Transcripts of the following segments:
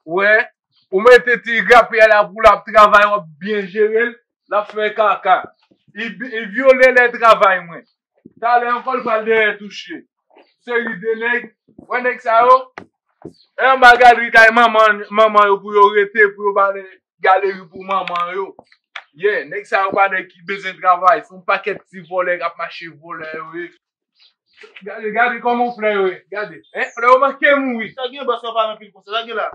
Wè, ou mete ti rapè a la pou l ap travay, w ap byen jere l, l ap fè kaka. Li vyole lè travay mwen. Talè ankò l pral dèyè touche. Seri de nèg. Wè nèg sa yo? E anba gadri kay manman yo pou yo rete pou yo bale galeri pou manman yo. Ye, nèg sa yo pa nèg ki bezwen travay. Se yon pakèt ti vòlè k ap mache vòlè yo ye. Gade, gade kòman flè yo ye. Gade. Flè yo manke mouri. Sa k gen bòs yo pa nan pil konsa? Sa k gen la?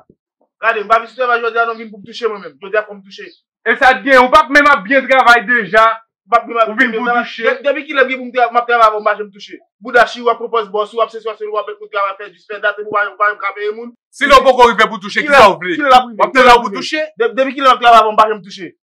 Gade, m pa vin sou travay jodi a non, m vin pou m touche mwen menm. Jodi a fò m touche. E sa t gen, ou pa t menm ap byen travay deja, ou vin pou w touche. Depi kilè m gen pou m travay, m ap travay avan m mache m touche. Bouda chill wap pran pòz bòs ou, wap sesi wap selo, wap mèt moun travay fè dis fè dat epi w pa menm ka peye moun. Si lè w poko rive pou touche, kisa w vle? Wap tann lè w pou touche? Depi kilè m ap travay avan m mache m touche.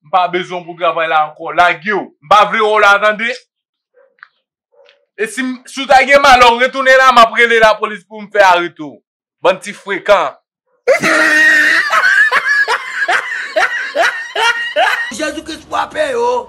M pa bezwen w pou travay la ankò. Lage w. M pa vle wè w la tande. E si w ta gen malè w retounen la, m ap rele lapolis pou m fè arete w. Bann ti frekan. Jezi Kris fwape yo!